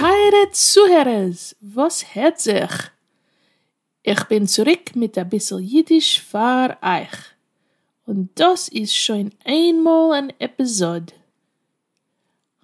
טייערע צוהערערס וואס הערט זיך? איך בין צוריק מיט אביסל אידיש פאר אייך, און דאס איז שוין איינמאל אן עפיזאד,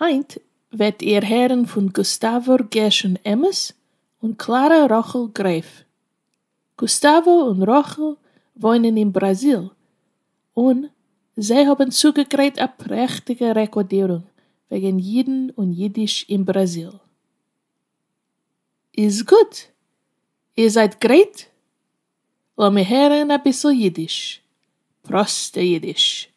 היינט וועט איר הערן פון גוסטאוואר גרשון עמוס און קלארא רחל גרעף. גוסטאווא און רחל וואוינען אין בראזיל און זיי האבן צוגעגרייט א פרעכטיגע רעקאדירונג וועגן אידן און אידיש אין בראזיל. איז גוט! איר זייט גרייט? לאמיר הערן אביסל אידיש. פראסטע אידיש.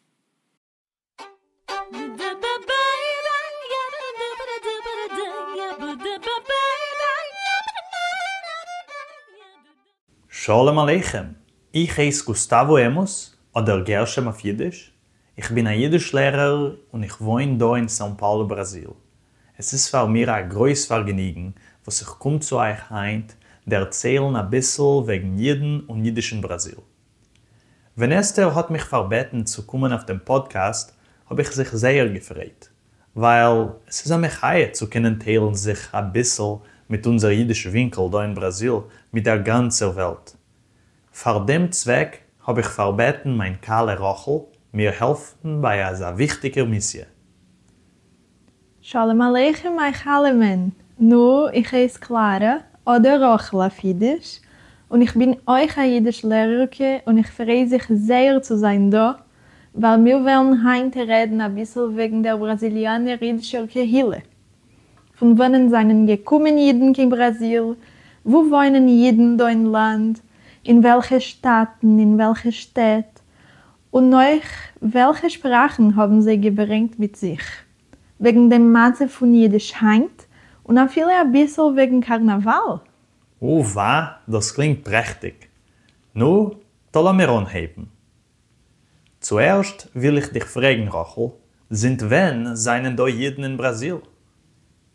שלום עליכם! איך הייס גוסטאווא עמוס, אדער גרשם אויף אידיש. איך בין א אידיש לערער און איך וואוין דא אין סאו פאולו בראזיל. עס איז פאר מיר א גרויס פארגעניגן וואס איך קום צו אייך היינט דערציילן אביסל וועגן אידן און אידיש אין בראזיל. ווען אסתר האט מיך פארבעטן צו קומען אויף דעם פאדקעסט האב איך זיך זייער געפרייט, ווייל עס איז א מחיה צו קענען טיילן זיך אביסל מיט אונזער אידיש ווינקל דא אין בראזיל מיט דער גאנצער וועלט. פאר דעם צוועק האב איך פארבעטן מיין כלה רחל מיר העלפן ביי אזא וויכטיגער מיסיע. שלום עליכם איך אלעמען! נו, איך הייס קלארע, אדער רחל אויף אידיש, און איך בין אויך א אידיש לערערקע און איך פריי זיך זייער צו זיין דא, ווייל מיר וועלן היינט רעדן אביסל וועגן דער בראזיליאנער אידישער קהילה. פון וואנען זענען געקומען אידן קיין בראזיל? וואו וואוינען אידן דא אין לאנד? אין וועלכע שטאטן? אין וועלכע שטעט? און נאך וועלכע שפראכן האבן זיי געברענגט מיט זיך וועגן דעם מצב פון אידיש היינט, און אפילו אביסל וועגן קארנאוואל? וואו ווא, דאס קלינגט פרעכטיג. נו, טא לאמיר אנהייבן. צוערשט וויל איך דיך פרעגן, רחל, זינט ווען זענען דא אידן אין בראזיל?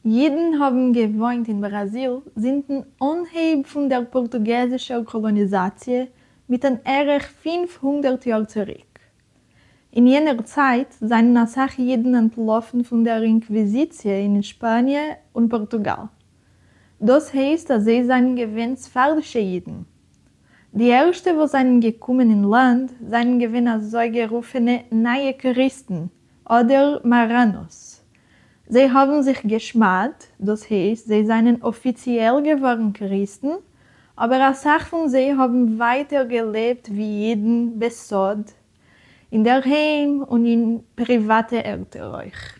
ייִדן האָבן געוואוינט אין בראַזיל זינטן אָנהייב פֿון דער פּאָרטוגעזישער קאָלאָניזאַציע מיט אַן ערך פֿינף הונדערט יאָר צוריק. אין יענער צייט זײַנען אַ סך ייִדן אַנטלאָפֿן פֿון דער אינקוויזיציע אין שפּאַניע און פּאָרטוגאַל. דאָס הייסט, אַז זיי זײַנען געווען ספֿרדישע ייִדן. די ערשטע וואָס זײַנען געקומען אין לאַנד זײַנען געווען אַזוי גערופֿענע נײַע קריסטן, אדער מאראנאס. זיי האבן זיך גע'שמד'ט, דאס הייסט זיי זענען אפיציעל געווארן קריסטן, אבער אסאך פון זיי האבן ווייטער געלעבט ווי אידן בסוד, אינדערהיים און אין פריוואטע ערטער אויך.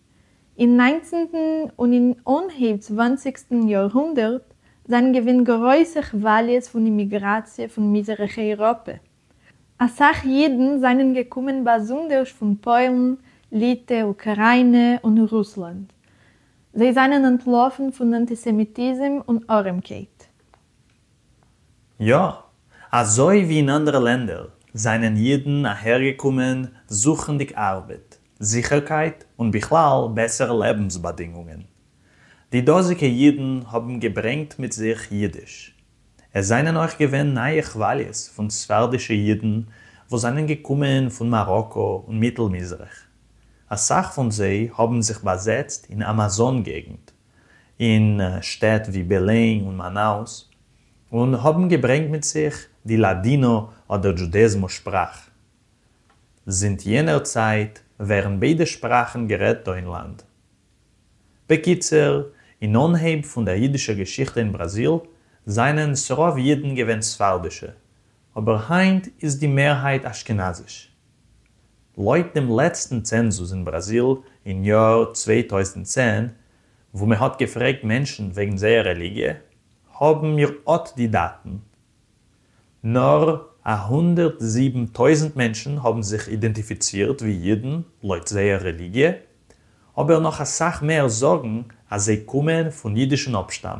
אין ניינצנטן און אין אנהייב צוואנציגסטן יארהונדערט זענען געווען גרויסע כוואליעס פון אימיגראציע פון מזרח אייראפע. אסאך יידן זענען געקומען באזונדערש פון פוילן, ליטע, אוקראינע און רוסלאנד. זיי זענען אנטלאפן פון אנטיסעמיטיזם און ארעמקייט. יא, אזוי ווי אין אנדערע לענדער זענען אידן אהערגעקומען זוכנדיג ארבעט, זיכערקייט און בכלל בעסערע לעבנס באדינגונגען. די דאזיגע אידן האבן געברענגט מיט זיך אידיש. עס זענען אויך געווען נייע כוואליעס פון ספרדישע אידן וואס זענען געקומען פון מאראקא און מיטל מזרח. אסאך פון זיי האבן זיך באזעצט אין אמאזאן געגנט אין שטעט ווי בעלען און מאנאוס, און האבן געברענגט מיט זיך די לאדינא אדער דזשודעזמא שפראך. זינט יענער צייט ווערן ביידע שפראכן גערעדט דא אין לאנד. בקיצור, אין אנהייב פון דער יידישער געשיכטע אין בראזיל זיינען ס'רוב יידן געווען ספרדישע, אבער היינט איז די מערהייט אשכנזיש. לויט דעם לעצטן צענזוס אין בראזיל אין יאר צוויי טויזנט צען, וואו מען האט געפרעגט מענטשן וועגן זייער רעליגיע, האבן מיר אט די דאטן. נאר א הונדערט זיבן טויזנט מענטשן האבן זיך אידענטיפיצירט ווי אידן לויט זייער רעליגיע, אבער נאך אסאך מער זאגן אז זיי קומען פון אידישן אפשטאם,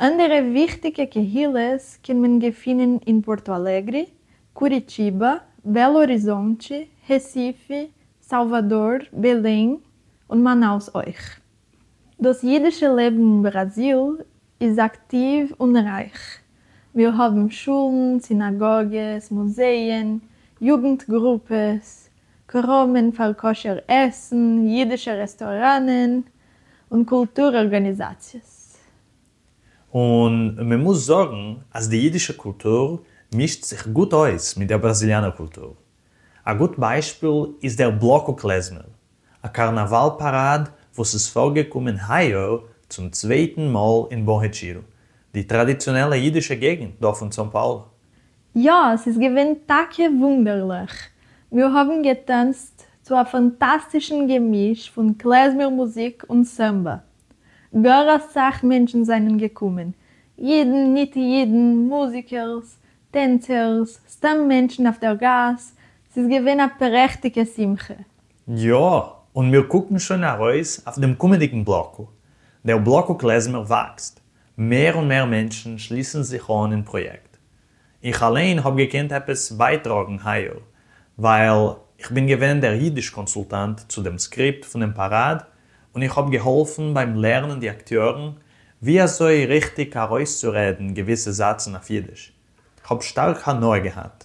אנדערע וויכטיגע קהילות קען מען געפינען אין פארטא אלעגרי, קוריטיבא, בעלא האריזאנטשי, רעסיפי, סאלוואדאר, בעלעם, און מאנאוס אויך. דאס אידישע לעבן אין בראזיל איז אקטיוו און רייך. מיר האבן שולן, סינאגאגעס, מוזייען, יוגנט גרופעס, קראמען פאר כשר עסן, אידישע רעסטאראנען, און קולטור ארגאניזאציעס. און מען מוז זאגן אז די אידישע קולטור מישט זיך גוט אויס מיט דער בראזיליאנער קולטור. א גוט ביישפיל איז דער בלאקו קלעזמער, א קארנאוואל פאראד וואס איז פארגעקומען היי יאר צום צווייטן מאל אין באו-רעטשירו, די טראדיציאנעלע אידישע געגנט דא פון סאו פאולא. יא, ס'איז געווען טאקע וואונדערליך. מיר האבן געטאנצט צו א פאנטאסטישן געמיש פון קלעזמער מוזיק און סאמבא. גאר אסאך מענטשן זענען געקומען, אידן, ניט-אידן, מוזיקערס, טענצערס, סתם מענטשן אויף דער גאס, ס'איז געווען א פרעכטיגע שמחה. יא, און מיר קוקן שוין ארויס אויף דעם קומענדיגן בלקו. דער בלקו קלעזמער וואקסט. מער און מער מענטשן שליסן זיך אן אין פראיעקט. איך אליין האב געקענט עפעס בייטראגן היי-יאר, ווייל איך בין געווען דער אידיש קאנסולטאנט צו דעם סקריפט פונעם פאראד, און איך האב געהאלפן ביים לערנען די אקטיארן ווי אזוי ריכטיג ארויסצורעדן געוויסע זאצן אויף אידיש. כ'האב שטארק הנאה געהאט.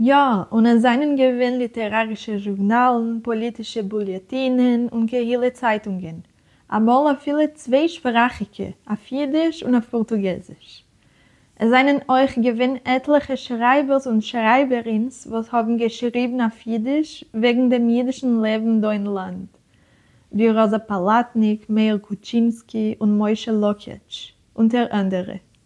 יא, און עס זענען געווען ליטערארישע זשורנאלן, פאליטישע בוליעטינען און קהילה צייטונגען, אמאל אפילו צוויי שפראכיקע, אויף אידיש און אויף פארטוגעזיש. עס זענען אויך געווען עטליכע שרייבערס און שרייבערינס וואס האבן געשריבן אויף אידיש וועגן דעם אידישן לעבן דא אין לאנד, ווי ראזא פאלאטניק, מאיר קוטשינסקי און משה לוקאץ', אונטער אנדערע.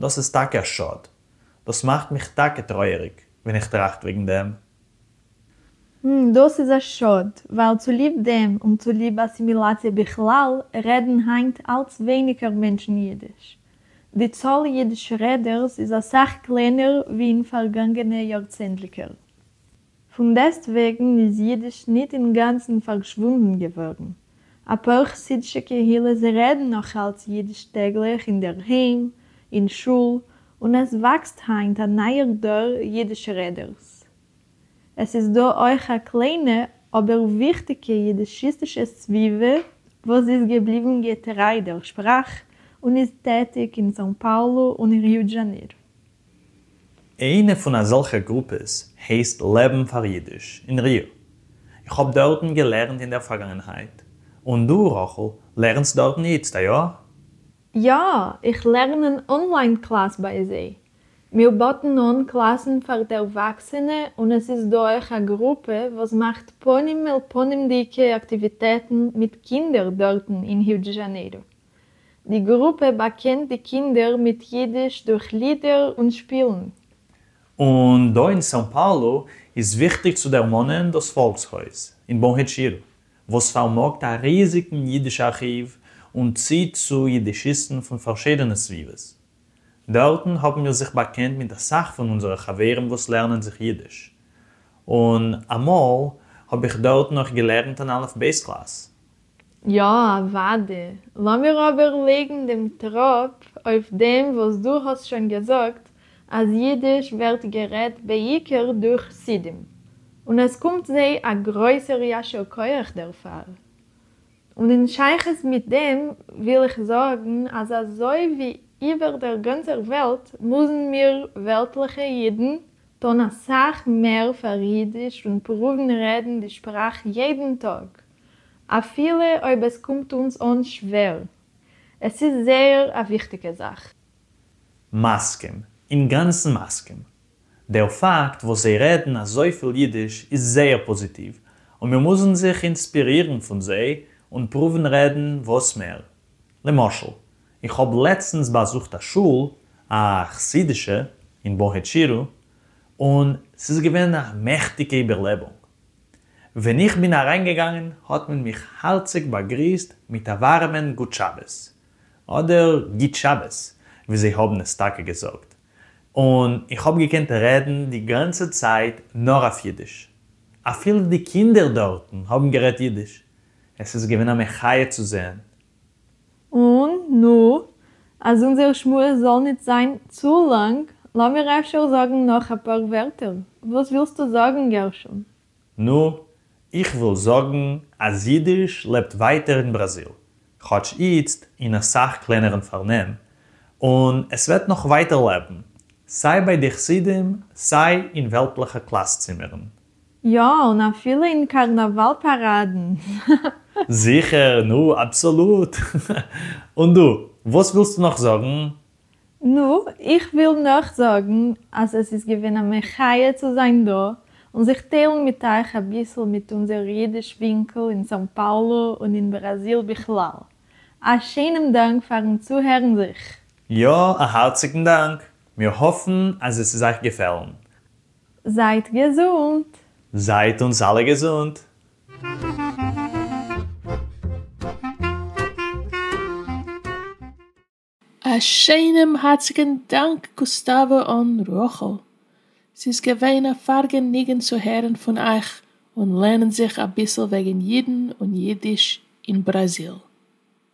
דאס איז טאקע א שאד. דאס מאכט מיך טאקע טרויעריג ווען איך טראכט וועגן דעם. ם, דאס איז א שאד, ווייל צוליב דעם און צוליב אסימילאציע בכלל, רעדן היינט אלץ ווייניגער מענטשן אידיש. די צאל אידיש רעדערס איז אסאך קלענער ווי אין פארגאנגענע יארצענדליקער. פון דעסטוועגן איז יידיש ניט אינגאנצן פארשוואונדן געווארן, אפאר חסידישע קהילות רעדן נאכאלץ יידיש טעגליך אין דער היים, אין שול, און עס וואקסט היינט א נייער דור יידיש רעדערס. עס איז דא אויך א קליינע אבער וויכטיגע יידישיסטישע סביבה וואס איז געבליבן געטריי דער שפראך און איז טעטיג אין סאו פאולו און ריו דזשאניר. איינע פון אזעלכע גרופעס הייסט לעבן פאר אידיש אין ר י, איך האב דארטן געלערנט אין דער פארגאנגענהייט, און דו רחל לערנסט דארטן איצט, איא? יא, איך לערן אן אנליין קלאס ביי זיי. מיר באטן אן קלאסן פאר דערוואקסענע און עס איז דא אויך א גרופע וואס מאכט פנים אל פנים'דיגע אקטיוויטעטן מיט קינדער דארטן אין ריו דזשאנעירו. די גרופע באקענט די קינדער מיט יידיש דורך לידער און שפילן. און דא אין סאו פאולו איז וויכטיג צו דערמאנען דאס פאלקס-הויז אין באן העשירו, וואס פארמאגט א ריזיגן יידיש ארכיוו און ציט צו יידישיסטן פון פארשידענע סביבות. דארטן האבן מיר זיך באקענט מיט אסאך פון אונזערע חברים וואס לערנען זיך יידיש, און אמאל האב איך דארט נאך געלערנט אין אלף-בית קלאס. יא אוואדי, לאמיר אבער לייגן דעם טראפ אויף דעם וואס דו האסט שוין געזאגט אז אידיש ווערט גערעדט בעיקר דורך חסידים און עס קומט זיי א גרויסער יישר כח דערפאר, און אין שייכות מיט דעם וויל איך זאגן אז אזוי ווי איבער דער גאנצער וועלט מוזן מיר וועלטליכע אידן טון אסאך מער פאר אידיש און פרואוון רעדן די שפראך יעדן טאג, אפילו אויב עס קומט אונז אן שווער. עס איז זייער א וויכטיגע זאך. מסכים. אינגאנצן מסכים. דער פאקט וואס זיי רעדן אזויפיל אידיש איז זייער פאזיטיוו, און מיר מוזן זיך אינספירירן פון זיי און פרואוון רעדן וואס מער. למשל, איך האב לעצטנס באזוכט א שול, א חסידישע, אין באהיטשירא, און ס'איז געווען א מעכטיגע איבערלעבונג. ווען איך בין אריינגעגאנגען האט מען מיך הארציג באגריסט מיט א ווארעמען גוט שבת, אדער גוט שבת ווי זיי האבן עס טאקע געזאגט, און איך האב געקענט רעדן די גאנצע צייט נאר אויף אידיש. אפילו די קינדער דארטן האבן גערעדט אידיש. עס איז געווען א מחיה צו זען און נו, אז אונזער שמועס זאל ניט זיין צו לאנג, לאמיר אפשר זאגן נאך אפאר ווערטער. וואס ווילסטו זאגן, גרשון? נו, איך וויל זאגן אז יידיש לעבט ווייטער אין בראזיל, כאטש איצט אין א סך קלענערן פארנעם, און עס וועט נאך ווייטער לעבן, סיי ביי די חסידים, סיי אין וועלטלעכע קלאס-צימערן. יא, און אפילו אין קארנאוואל פאראדן. זיכער, נו, אבסאלוט. און דו, וואס ווילסטו נאך זאגן? נו, איך וויל נאך זאגן אז עס איז געווען א מחיה צו זיין דא און זיך טיילן מיט אייך אביסל מיט אונזער אידיש ווינקל אין סאו פאולו און אין בראזיל בכלל. א שענעם דאנק פארן צוהערן זיך. יא, א הארציגן דאנק. מיר האפן אז עס איז אייך געפעלן. זייט געזונט! זייט אונז אלע געזונט! א שיינעם הארציגן דאנק גוסטאווע און רחל, ס'איז געווען א פארגעניגן צו הערן פון אייך און לערנען זיך אביסל וועגן אידן און אידיש אין בראזיל.